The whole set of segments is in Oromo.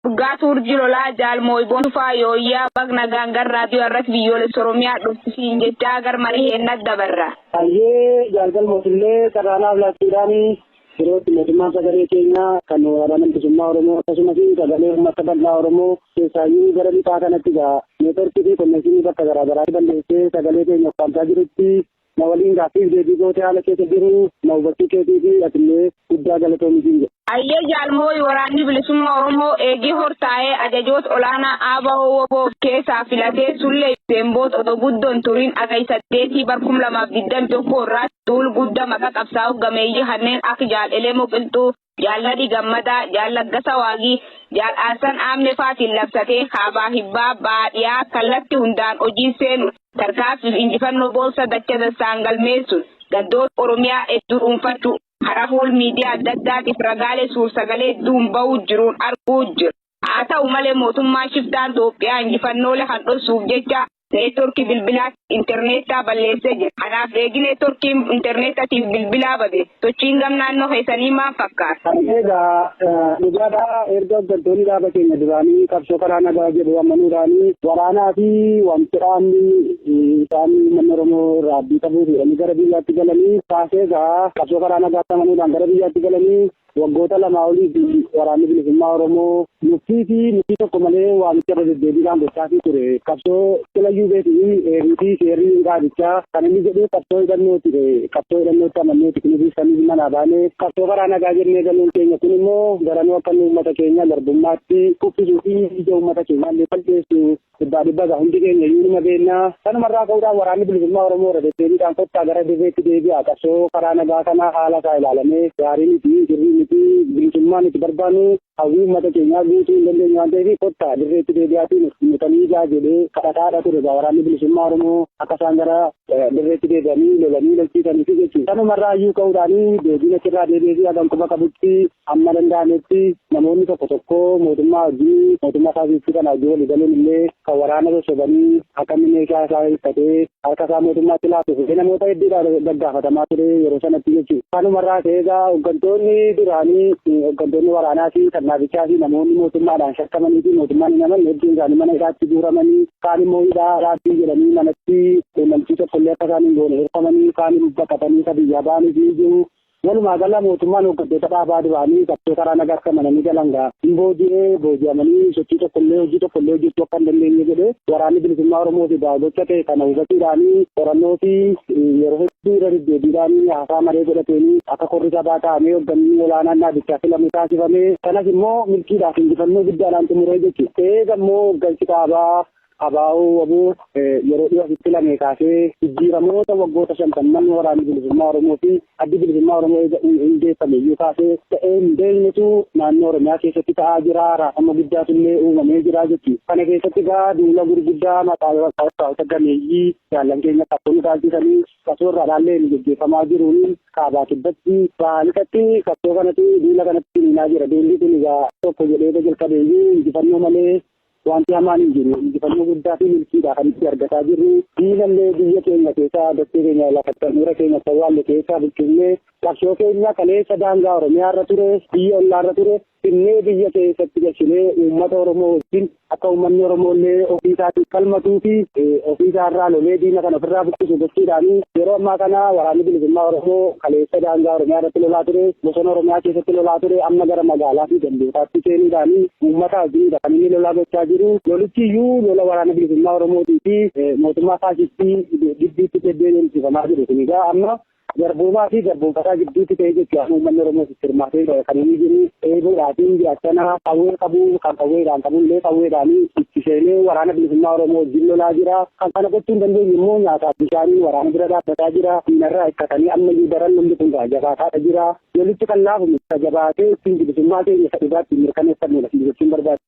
Dhugaa Tuurji Lolaa Jaal Mooyboon Tufaa Yooyyaa Bag Nagaan Gar Raadiyoo Arras Biyyoolessa Oromiyaa dhufti siin jechaa gar marii heenna dabarra. Hayyee Jaal Galmoos illee carraa naaf laachuudhaan yerootti mootummaan sagalee keenyaa kan waraana bilisummaa Oromoo akkasumas sagalee uummata bal'aa Oromoo keessaayyuu gara lixaa kanatti egaa neetworkii fi konneekshinii bakka garaagaraa balleessee sagalee keenya ukkaamsaa jirutti Na waliin gaaffiif deebii gootee haala keessa jiru na hubachuu keetiifi atillee guddaa galatoomi siin jedha. Ayyee Jaal Mooyi Waraanni Bilisummaa Oromoo eegii hortaa'ee ajajoota olaanaa ABO wbo of keessaa filatee Sullee fi Beenboot odoo guddoo hin turiin Hagay 8 bar 2021 irraatti duul gudda maqa qabsaa'oo gameeyyii kanneen akka Jaal Elemoo Qilxuu, Jaal Nadhii Gammadaa, Jaal Laggasaa Waagii, Jaal Aarsan Aammee fa'aatiin labsatee kaabaa, hibbaa, bahaa, dhiyaa kallatti hundaan hojiin seenu, tarkaanfii fi injifannoo boonsa dacha dassaan galmeessuun gandoota Oromiyaa hedduu dhuunfachuu hara fuul miidiyaa adda addaatiif ragaalee suur-sagalee hedduun bahuu jiruun arguu jirra. Haa ta'u malee mootummaan shiftaan Xoophiyaa injifannoolee kan dhossuuf jecha neetworkii bilbilaa interneettaa balleessee jira. Kanaaf eegi neetworkiin interneettatiif bilbilaa bade sochiin gam naannoo keessanii maal fakkaata? Egaa dhugaadhaa erga hooggantoonni dhaaba keenya duraanii qabsoo karaa nagaa jedhu amanuudhaanii waraanaa fi wanti dhaabni isaan uummanni Oromoo irraa abdii qabuu fi gara biyyaatti galanii kaasee egaa qabsoo karaa nagaatti amanuudhaan gara biyyaatti galanii Waggoota lamaa oliif Waraanni Bilisummaa Oromoo nuffii fi murtii tokko malee waamicha irra deddeebiidhaan gochaafii ture. Qabsoo silayyuu beetii heerii fi seerri dhaabichaa kan inni jedhu qabsoo hidhannoo ture. Qabsoo hidhannootti amanneeti kunis ibsanii manaa baane. Qabsoo karaa nagaa jennee galuun keenya kun immoo garanuu akka inni uummata keenya garbummaatti kuffisuu fi ija uummata keenyaa illee balleessu Dhibbaa dhibba egaa hundi keenya iyyuu numa beekna. Kanuma irraa ka'uudhaan Waraanni Bilisummaa Oromoo irra deddeebiidhaan kottaa gara dirreetti deebi'aa qabsoo karaa nagaa kana haala isaa ilaalamee gaarii miti, sirrii miti, bilisummaa nuti barbaannu hawwii uummata keenyaa guutuu hin dandeenyu waan ta'eef kottaa dirreetti deebi'aatii nuuf dhimmitanii ijaa jedhee kadhataadha ture egaa Waraanni Bilisummaa Oromoo akka isaan gara dirreetti deebi'anii lolanii lolchiisaniifi jechuudha. Kanuma irraa iyyuu ka'uudhaan deebiin achirraa deebi'eefii hagan quba qabutti Hamma danda'ametti namoonni tokko tokko mootummaa wajjin mootummaa faashistii kana wajjin walii galuun illee kan waraana sossobanii akka inni meeshaa isaa hiikkatee harka isaa mootummaatti laatu fedhii namoota hedduudhaan gaggaafatamaa ture yeroo sanatti jechuudha. Kanumarraa ka'ee egaa hooggantoonni duraanii hooggantoonni waraanaa fi kan dhaabichaa fi namoonni mootummaadhaan shakkamanii fi mootummaan hin amanne hedduun isaanii mana hidhaatti guuramanii kaan immoo hidhaa raabbii jedhanii manatti quunnamtii tokkollee akka isaan hin goone hirfamanii kaan baqatanii ka biyyaa ba'anii fi jiru. Walumaa gala mootummaan hooggantoota dhaabaa duraanii qabsoo karaa nagaa akka amananii galan gaa hin booji'ee booji'amanii sochii tokkollee hojii tokkollee hojjechuu akka hin dandeenye godhe waraanni bilisummaa Oromoo fi gocha ta'e kana hubachuudhaan qorannoo fi yeroo hedduu irra deddeebiidhaan haasaa maree godhateen akka korri sabaa taa'amee hoogganni olaanaan dhaabichaa filamu taasifame kanas immoo milkiidhaaf injifannoo guddaadhaan xumuree jechuudha. Eega immoo hooggansi dhaabaa Abo, wbo, yeroo dhiyoo asitti filamee kaasee jijjiiramoota waggoota shantamman Waraanni Bilisummaa Oromoo fi Addi Bilisummaa Oromoo eega hundeeffame iyyuu kaasee ta'ee hin beeknetu naannoo Oromiyaa keessatti ta'aa jira, raafama guddaatu illee uumamee jira jetti. Kana keessatti egaa duula gurguddaa maqaa qabsaa'ota gameeyyii jaallan keenya qabsoo nu dhaalchisanii qabsoo irraa dhaalleen gaggeeffamaa jiruun kaabaa kibbatti bahaa lixatti qabsoo kanatti duula kanatti finiinaa jira. Duulli kun egaa tokko jedhee jalqabe iyyuu injifannoo malee Wanti hamaan hin jiru. Injifannoo guddaa fi milkiidha kan itti argataa jirru. Diinallee biyya keenya keessaa dachee keenya lafa qaxxaamura keenya sawwaalle keessaa buqqifnee qabsoo keenya kaleessa daangaa Oromiyaa irra ture, biyya ollaa irra ture finnee biyya keessatti gashinee uummata Oromoo wajjin akka uummanni Oromoollee ofii isaatiif falmatuu fi ofii isaa irraa lolee diina kana ofirraa buqqisu gochuudhaan yeroo ammaa kana waraanni bilisummaa Oromoo kaleessa daangaa Oromiyaa irratti lolaa ture, bosona Oromiyaa keessatti lolaa ture amma gara magaalaa fi gandootaatti seenuudhaan uummata Diinidha kan inni lolaa gochaa jiru. Lolichi iyyuu lola waraana bilisummaa Oromootii fi mootummaa faashistii gidduutti deebi'ee deemsifamaa jiru. Kun egaa amma garboomaa fi garboomfataa gidduutti ta'ee jechuudha. Amma uummanni Oromoos itti hirmaatee kan inni jiru eeboodhaatiin jiraachana qawwee qabu kan qawweedhaan qabu illee qawweedhaan itti seenee waraana bilisummaa Oromoo wajjin lolaa jira. Kan kana gochuu hin dandeenye immoo nyaataa bishaaniin waraana bira dhaabbataa jira. Diinarraa hikkatanii ammayyuu daran lolli kun jabaataa jira. Lolichi kan laafu miti. Isa jabaatee ittiin bilisummaa keenya isa dhugaa ittiin mirkaneeffannuudha siin jechuun barbaada.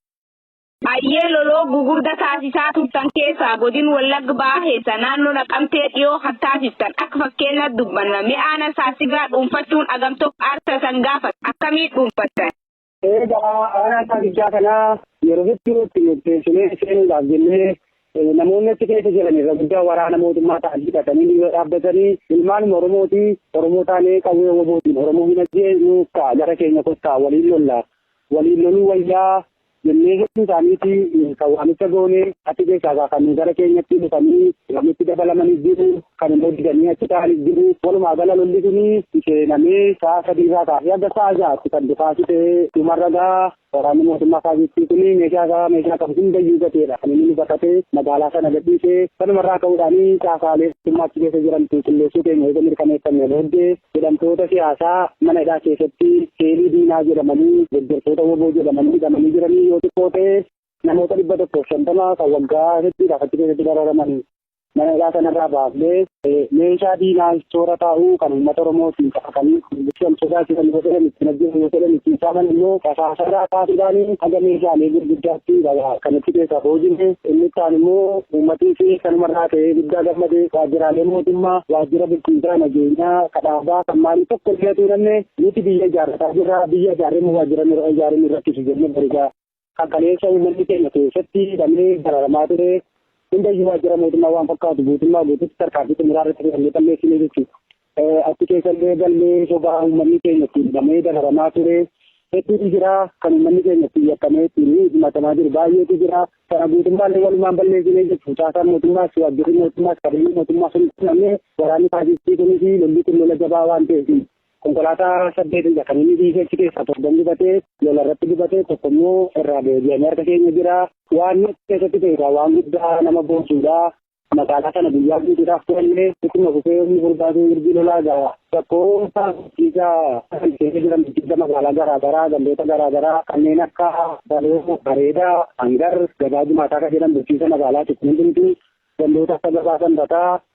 Hayyee loloo gugurda taasisaa turtan keessaa godin wallagg baha keessa naannoo naqamtee dhiyoo kan taasiftan akka fakkeenyaatti dubbanna mee aana saasigaa dhuunfachuun agam tokko aarsa san gaafata akkamii dhuunfattan. Egaa aanaa saabichaa kana yeroo hedduu itti murteessinee seenuudhaaf jennee namoonni achi keessa jiran irra guddaa waraana mootummaa ta'an hidhatanii ni dhaabbatanii ilmaanuma Oromooti Oromoo taanee qawwee wabootiin Oromoo hin ajjeesnu ka'a gara keenya kottaa waliin lolla waliin loluu wayyaa jennee hedduu isaaniiti kan waamicha goone achi keessaa kan gara keenyatti dhufanii walitti dabalamanii jiru Kan immoo didanii achi taa'anii jiru. Walumaa gala lolli kun seenamee sa'a sadii irraa kaasee hanga sa'a ja'aatti kan dhukaasi ta'ee dhumarra gaa waraanni mootummaa faasistii kun meeshaa isaa meeshaa qabu hundayyuu gateedha. Kan inni baqatee magaalaa sana gadhiisee kanumarraa ka'uudhaan caasaalee mootummaa achi keessa jiran qulqulleessuu keenya eega mirkaneeffannee booddee jedhamtoota siyaasaa mana hidhaa keessatti seelii diinaa jedhamanii deeggartoota woboo jedhamanii hidhamanii jiranii yoo xiqqoo ta'e namoota dhibba tokkoof shantama kan waggaa hedduudhaaf achi keessatti dararaman Mana hidhaa sanarraa baafnee meeshaa diinaa toora taa'uu kan uummata Oromoo ittiin caqasanii kan sodaachisan yoo fedhan ittiin ajjeesan yoo fedhan ittiin saaman immoo qasaasaadhaa kaasuudhaan haga meeshaalee gurguddaatti kan itti keessaa boojine inni kaan immoo uummatiis kanumarraa ka'ee guddaa gammadee waajjiraalee mootummaa waajjira bulchiinsaa nageenyaa kadhaabaa kan maalii tokko illee tuulamne nuti biyya ijaarrataa jirra biyya ijaarree waajjira ijaarree nu rakkisu jennee barigaa Kan kaleessa uummanni keenya keessatti hidhamee dararamaa ture hundayyuu waajjira mootummaa waan fakkaatu guutummaa guutuutti tarkaanfii xumuraa irratti fudhannee balleessine jechuudha. Achi keessallee galmee sobaa uummanni keenya ittiin hidhamee dararamaa ture hedduutu jira. Kan uummanni keenya ittiin yakkamee ittiin himatamaa jiru baay'eetu jira. Kana guutummaallee walumaan balleessine jechuudha. Caasaan mootummaas waajjirri mootummaas qabeenyi mootummaa sun namni waraanni taasisii kunis lolli kun lola jabaa waan ta'eef Konkolaataa saddeetidha kan inni dhiisee achi keessaa torban gubatee lola irratti gubatee tokko immoo irraa deebi'anii harka keenya jira. Waan achi keessatti ta'e egaa waan guddaa nama boonsuudha. Magaalaa sana guyyaa guutuudhaaf turannee ittuma fufee humni furdaatu mirgi lolaa egaa rakkoo taasisaa kan keessa jiran bulchiinsa magaalaa garaagaraa gandoota garaagaraa kanneen akka baloo bareedaa hangar gabaa jimaataa kan jedhan bulchiinsa magaalaati kun hundumtuu gandoota akka gabaa sanbataa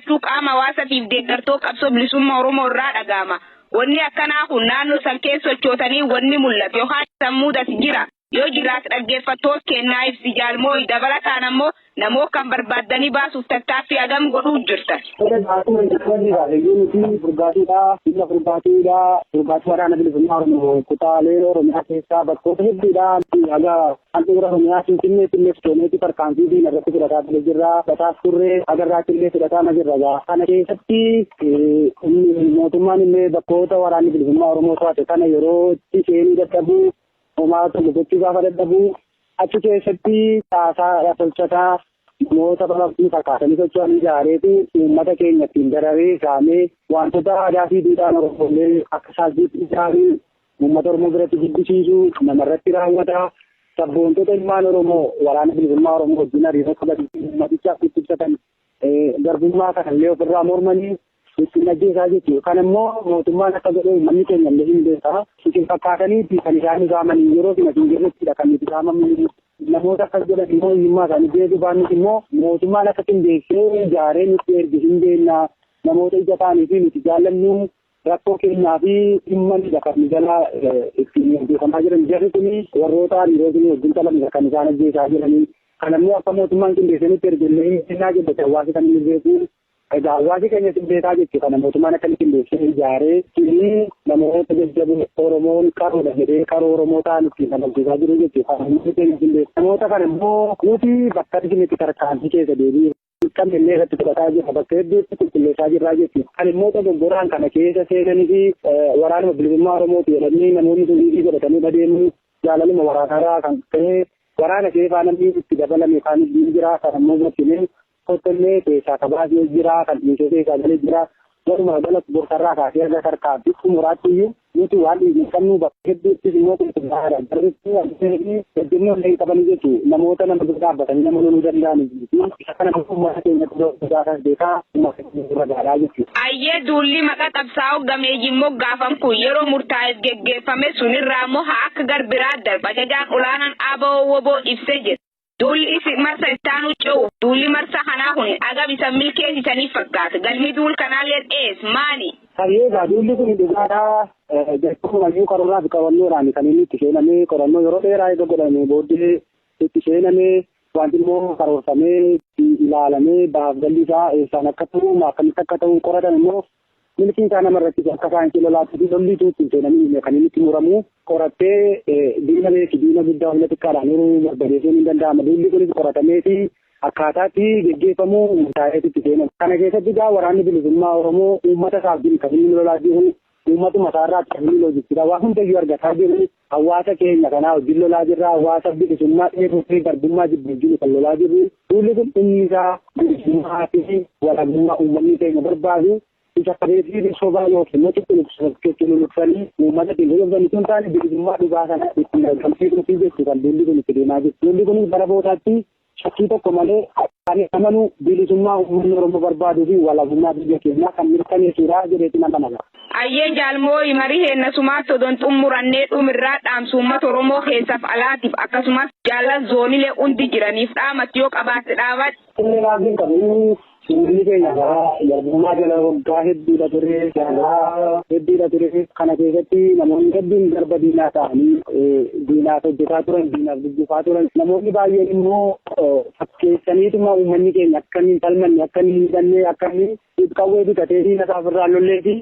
Maaltu qaama hawaasatiif deeggartoo qabsoo bilisumma Oromoo irraa dhaga'ama? Wanni akkanaa kun naannoo san keessa sochootanii wanni mul'ate yookaan isan muudate jira? Yoo jiraate dhaggeeffattoot keennaa ibsi Jaal Mooyi. Dabalataan ammoo namoot kan barbaaddanii baasuuf tattaaffii hagam godhuut jirtan? Edas akkuma jalqabarri kaase yoo nuti burgaatuudha, humna burgaatuudha, burgaatuu waraana bilisummaa Oromoo kutaalee Oromiyaa keessaa bakkoota hedduudhaa haga Handhuura Oromiyaa Finfinneetti illee sochooneeti tarkaanfii diina irratti fudhataa ture jirra. Bataas turre agarraatti illee fudhataama jirra gaa. Kana keessatti mootummaan illee bakkoota waraanni bilisummaa Oromoo to'ate kana yeroo itti seenuu dadhabu homaa tokko gochuu gaafa dadhabu achi keessatti caasaa tolchataa namoota balabbii fakkaatanii socho'an ijaareeti uummata keenya ittiin dararee saamee wantoota aadaa fi duudhaan Oromoolee akka saalbiitti ijaaruun Uummata Oromoo biratti jibbisiisu namarratti raawwata. Sabboontota ilmaan Oromoo waraana bilisummaa Oromoo wajjin hariiroo qaban uummatichaaf itti ibsatan garbummaa kana illee ofirraa mormanii ittiin ajjeesaa jechuudha. Kan immoo mootummaan akka godhe uummanni keenya illee hin beekaa. Isin fakkaataniiti kan isaan isaaman yeroo isin asiin jirrettidha kan nuti isaamamu. Namoota akkas godhan immoo hiyyummaa isaanii beekuu baannis immoo mootummaan akka qindeessee ijaaree nutti erge hin beekna. Namoota ija ta'anii fi nuti jaallannu rakkoo keenyaa fi dhimma ni kan jala ittiin gaggeeffamaa jiran jarri kun warroota hariirootni wajjin qabanidha kan isaan ajjeesaa jiranii kan ammoo akka mootummaan qindeessanitti ergellee hin kennaa jette hawaasi kan inni beeku egaa hawaasi keenya sin beekaa jette kana mootummaan akka inni qindeessee ijaaree kini namoota jajjaboo oromoon qaroodha jedhee qaroo oromoo ta'an ittiin kan ajjeesaa jiru jette kan ammoo keenya qindeesse namoota kana immoo nuti bakka arginetti tarkaanfii keessa deebi'e. Kan illee irratti fudhataa jirra bakka hedduutti qulqulleessaa jirraa jechuudha. Kan immoo dogoggoraan kana keessa seenanii fi waraanuma bilisummaa Oromooti jedhanii namoonni sun dhiibii godhatanii adeemuu jaalaluma waraanaarraa kan ka'e waraana keessaa namni itti dabalame kan jira kan ammoo gochine kottollee keessaa kabaasee jira kan dhiisee keessaa galee jira Walumaa galatti dursaarraa kaasee haga tarkaanfii xumuraatti iyyuu nuti waan dhiigne qabnu bakka hedduuttis immoo qulqullaa'aadha. Jarrisi abdii fi ejjennoo illee hin qabani jechu namoota nama dura dhaabbatanii nama loluu danda'anii miti. Isa kana immoo uummata keenya dura guddaasas beekaa uummata keenya dura gaadhaa jechu. Ayyee duulli maqa qabsaa'oo gameeyyiin moggaafam kun yeroo murtaa'eef geggeeffame sunirraa immoo haa akka garbiraa darba ajajaan olaanaan ABO-WBO ibsee jira. Duulli isi marsa ittaanuu ce'uuf duulli marsa kanaa kun agam isan milkeessisaniif fakkaata? Galmi duul kanaalleen ees? Maani? Tarii egaa duulli kun dhugaadhaa? Jalqabumayyuu karooraa fi qabannoodhaan kan inni itti seenamee qorannoo yeroo dheeraa eega godhamee booddee itti seenamee wanti immoo karoorfamee ilaalamee bahaaf galli isaa eessaan akka ta'u akkamitti akka ta'u qoratame immoo Milkiin isaa nama irratti akka saayinsii lolaatti fi lolli utuu itti hin seenamiin kan inni itti muramu qorattee diina beeki diina guddaa humna xiqqaadhaan yeroo barbadeessuun hin danda'ama. Duulli kunis qoratamee fi akkaataatti geggeeffamu murtaa'eetu itti seenama. Kana keessatti egaa waraanni bilisummaa Oromoo uummata isaaf jiru kan inni lolaa jiru uummatuma isaa irraa tajaajila hojjechiidha. Waan hundayyuu argataa jiru Hawwaasa keenya kanaa wajjin lolaa jirra. Hawwaasa bilisummaa dheebuu fi garbummaa jibbu wajjin kan lolaa jirru. Duulli kun dhumni isaa bilisummaa fi walabummaa uummanni keenya barbaadu isa kabeefiifi sobaa yookiin immoo cuqquluqsachuu luluqsanii uummata ittiin loloftan utuu hin taane bilisummaa dhugaa sana ittiin argamsiisuufi jechuu kan duulli kun itti deemaa jiru. Duulli kunis bara boodaatti Shakkii tokko malee kan amanu bilisummaa uummanni Oromoo barbaaduu fi walabummaa biyya keenyaa kan mirkaneessuudha jedheetiin amana. Ayyee Jaal Mooyi marii heenna sumaatti odon xummurannee dhumirraa dhaamsa uummata Oromoo keessaf alaatiif akkasumas jaallan zoonilee hundi jiraniif dhaamatti yoo qabaatte dhaabadhu. Illee raagii hin qabu. Uummanni keenya garaa garbummaa jala waggaa hedduudha ture. Garaa hedduudha ture. Kana keessatti namoonni hedduun garba diinaa ta'anii diinaaf hojjetaa turan, diinaaf gugguufaa turan. Namoonni baay'een immoo fakkeessaniituma uummanni keenya akka inni hin falmanne, akka inni hin hidhanne, akka inni qawwee bitatee diina isaa ofirraa lollee fi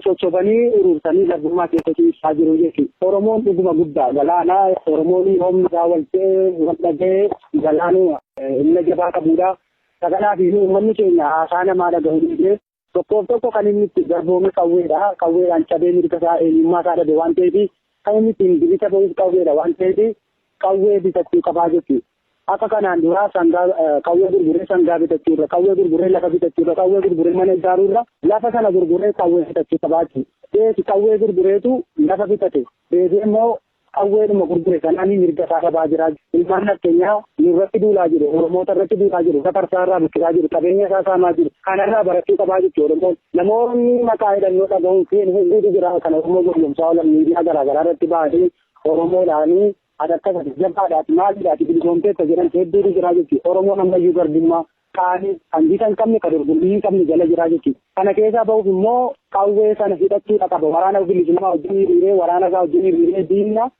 sochobanii urursanii garbummaa keessa ciisaa jiru jechuudha. Oromoon dhuguma guddaa galaana. Oromoon yoomni isaa wal ta'ee, wal dhaga'ee galaanuma humna jabaa qabudha. Isa kanaaf iyyuu uummanni keenya haasaa namaa dhagahuu dhiisee tokkoof tokko kan inni itti garboome qawweedha. Qawweedhaan cabee mirga isaa, eenyummaa isaa dhabe waan ta'eef kan inni ittiin bilisa bahus qawweedha waan ta'eef qawwee bitachuu qabaa jechuudha. Akka kanaan duraa sangaa qawwee gurguree sangaa bitachuu irra, qawwee gurguree lafa bitachuu irra, qawwee gurguree mana ijaaruu irra lafa sana gurguree qawwee bitachuu qabaa jechuudha. Beeki qawwee gurgureetu lafa bitate. Deebi'ee immoo Qawweedhuma gurgure sanaan mirga isaa dhabaa jira. Ilmaan nafxenyaa nurratti duulaa jiru, Oromoota irratti duulaa jiru, Gafarsaa irraa buqqisaa jiru, qabeenya isaa saamaa jiru. Kanarraa barachuu qabaa jechuudha Oromoon. Namoonni maqaa hidhannoo dhagahuun seenu hedduutu jira kan Oromoo gowwomsaa oolan miidiyaa garaa garaa irratti ba'anii Oromoodhaanii ati akkas ati jabaadha ati maalidha ati bilisoomteetta jedhan hedduutu jira jechuudha. Oromoon ammayyuu garbummaa kaanii kan gita hin qabne ka dorgommii hin qabne jala jiraa jechuudha. Kana keessaa bahuuf immoo qawwee sana hidhachuudha qaba. Waraana bilisummaa wajjin hiriiree waraana isaa wajjin hiriiree diinna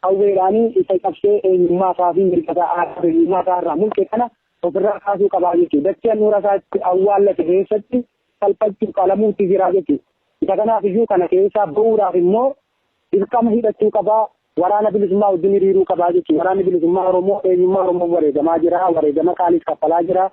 qawweedhaan isa cabsee eenyummaa isaa fi mirga isaa aadaa eenyummaa isaa irraa mulqe kana ofirraa kaasuu qabaa jechuudha. Dachee handhuura isaa itti awwaallate keessatti salphachuu qalamuutti jiraa jechuudha. Isa kanaaf iyyuu kana keessaa bahuudhaaf immoo Dirqama hidhachuu qaba, Waraana Bilisummaa wajjin hiriiruu qaba jechuun Waraanni Bilisummaa Oromoo eenyummaa Oromoof wareegamaa jira, wareegama qaaliis kaffalaa jira.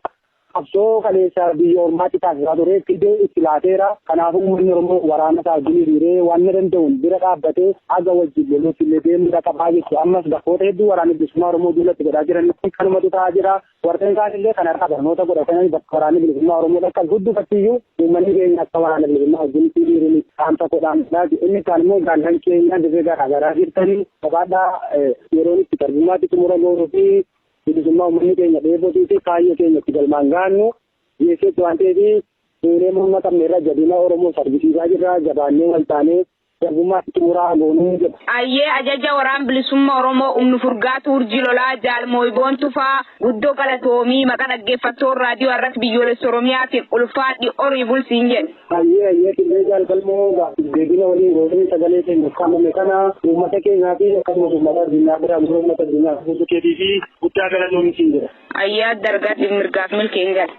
Qabsoo kaleessa biyya ormaatti taasisaa ture fide itti laateera. Kanaafuu uummanni Oromoo waraana isaa wajjin hiriiree wanna danda'uun bira dhaabbatee haga wajjin loluutti illee deemuudha qaba jechuudha. Ammas bakkoota hedduu Waraanni Bilisummaa Oromoo duula itti godhaa jiran kanumatu ta'aa jira. Warreen kaan illee kanarraa barnoota godhatanii bakka waraanni bilisummaa Oromoo dhaqqabu hundumatti iyyuu uummanni keenya akka waraana bilisummaa wajjin itti dhiirri dhaamsa godhaan laati. Inni kaan immoo jaallan keenya dirree garaa garaa jirtanii qabaadhaa yeroon itti tarjummaatti xumura goonuu fi bilisummaa uummanni keenya dheebotuu fi kaayyoo keenya itti galmaan gaannu dhiyeesseetti waan ta'eef fuulee morma qabne irra jabina Oromoo argisiisaa jirra jabaannee waltaanee Garbummaatti xumura haa goonu jedha. Ayyee ajaja waraan bilisumma oromoo umnu furgaatu urjii lolaa jaal mooyboon tufaa guddo galatoomii maqa dhaggeeffattoon raadiyoo arras biyyoolessa oromiyaatiin ulfaadhi orii bul siin jedhe. Ayyee ayyee qillee jaal galmoo gaaffiif deebina waliin gootanii sagalee keenya ukkaamame kana uummata keenyaa fi akkasumas uummata addunyaa biraa gurra uummata addunyaa guutuu keetii fi guddaa galatoomii siin jedha. Ayyee adda argaatiif mirgaaf milkiin gala.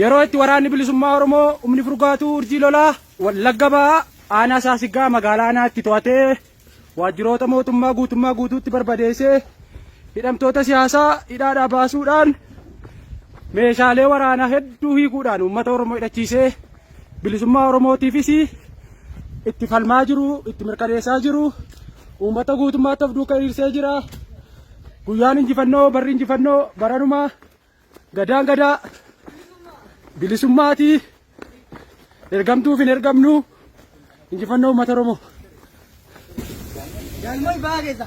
Yeroo itti waraanni bilisummaa Oromoo humni furgaatuu urjii lolaa wallagga ba'aa aanaa saasiggaa magaalaa aanaatti to'atee waajjiroota mootummaa guutummaa guutuutti barbadeessee hidhamtoota siyaasaa hidhaadhaa baasuudhaan meeshaalee waraanaa hedduu hiikuudhaan uummata Oromoo hidhachiisee bilisummaa Oromootiifis itti falmaa jiru itti mirkaneessaa jiru uummata guutummaatti of duuka hiriirsee jira. Guyyaan injifannoo barri injifannoo baranumaa gadaan gadaa bilisummaatii ergamtuuf hin ergamnu injifannoo uummata Oromoo. Galmay baagessa.